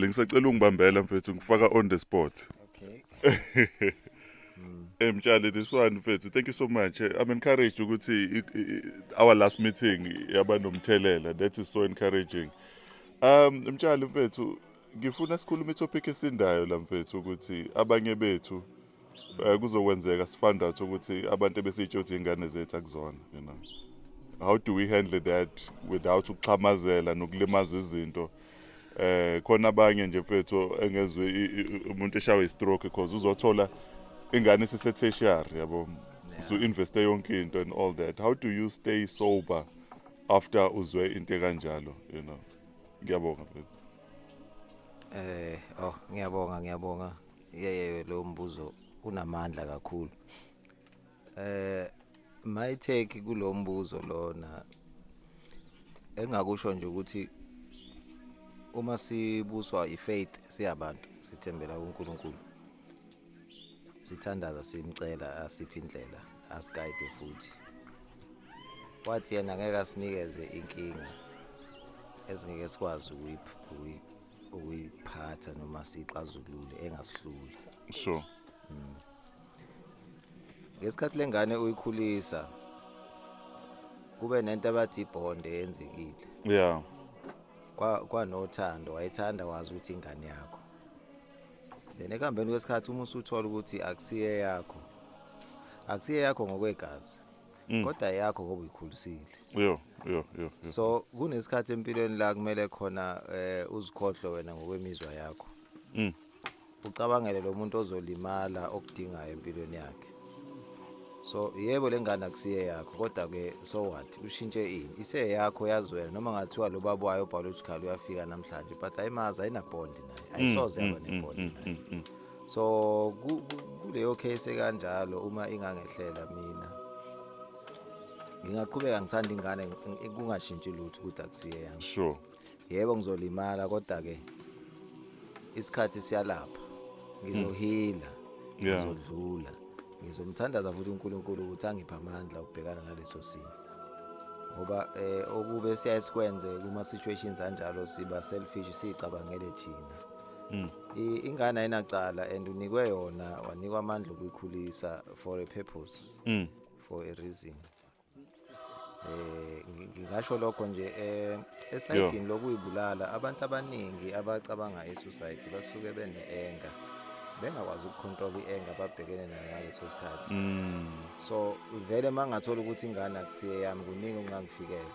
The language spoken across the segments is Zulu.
lengisacela ungibambela mfethu ngifaka on the spot okay Eh mtshali this one mfethu thank you so much eh, i'm encouraged ukuthi i- i- i- our last meeting yaba nomthelela that is so encouraging um mtshali mfethu ngifuna sikhulume itopic esindayo la mfethu ukuthi abanye bethu Eh, kuzokwenzeka sifandathe ukuthi abantu ebesitsho ukuthi ingane zethu akuzona you know how do we handle that without ukuxhamazela nokulimaza izinto eh khona abanye nje mfethu engezwe umuntu eshawe istroke because uzothola ingane sise tertiary yabo so investe yonke into and all that how do you stay sober after uzwe into kanjalo you know ngiyabonga mfethu eh oh ngiyabonga ngiyabonga yeye lo mbuzo unamandla kakhulu eh my take kulo mbuzo lona engakusho nje ukuthi uma sibuswa ifaith siyabantu sithembela kuNkulunkulu sithandaza simcela asiphi indlela asiguide futhi wathi yena ngeke asinikeze inkinga esingeke sikwazi ukuyipha ukuyiphatha noma siyixazulule engasihlula so hmm. ngesikhathi lengane uyikhulisa kube nento abathi ibond eyenzekile yeah kwa kwanothando wayethanda wazi ukuthi ingane yakho then ekuhambeni kwesikhathi uma usuthola ukuthi akusiye yakho akusiye yakho ngokwegazi Mm. kodwa yakho ngoba uyikhulisile yo yo yo yo. so kunesikhathi empilweni la kumele khona eh uzikhohlwe wena ngokwemizwa yakho Mm. ucabangele lo muntu ozolimala okudingayo empilweni yakhe so yebo le ngane akusiye yakho kodwa ke so what ushintshe ini iseyakho yazi wena noma ngathiwa lo baba wayo biological uyafika namhlanje but ayimazi ayinabond naye ayisoze yaba nebond naye so kuleyo case ekanjalo uma ingangehlela mina ngingaqhubeka ngithanda ingane kungashintshi lutho ukuthi akusiye yami sure yebo ngizolimala kodwa ke isikhathi siyalapha ngizohila hmm. ngizodlula ngizomthandaza futhi uNkulunkulu ukuthi angiphe amandla okubhekana naleso simo ngoba eh okube siyasikwenze kuma situations anjalo siba selfish sicabangele thina hmm. ingane ayinacala and unikwe yona wanikwa amandla okuyikhulisa for a purpose mm. for a reason eh ngingasho lokho nje eh esayidini lokuyibulala abantu abaningi abacabanga esuicide basuke bene anger bengakwazi ukucontrol ienga babhekene nayo ngaleso sikhathi mm. so vele mangathola ukuthi ingane akusiyeyami kuningi ongangifikela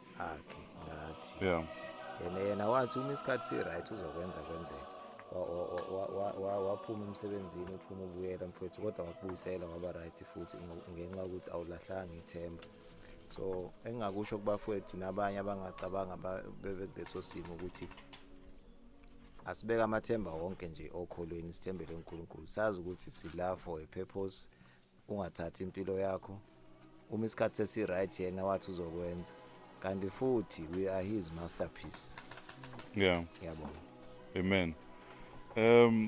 akhe ngathi yeah yena yena wathi uma isikhathi si right uzokwenza kwenzeka waphuma emsebenzini uphuma ubuyela mfowethu kodwa wakubuyisela waba right futhi ngenxa ukuthi awulahlanga ithemba so engingakusho kubafowethu nabanye abangacabanga bebe kuleso simo ukuthi asibeke amathemba wonke nje okholweni sithembele uNkulunkulu sazi ukuthi sila for a purpose ungathathi impilo yakho uma isikhathi sesi-right yena wathi uzokwenza kanti futhi we are his masterpiece yeah ngiyabonga amen um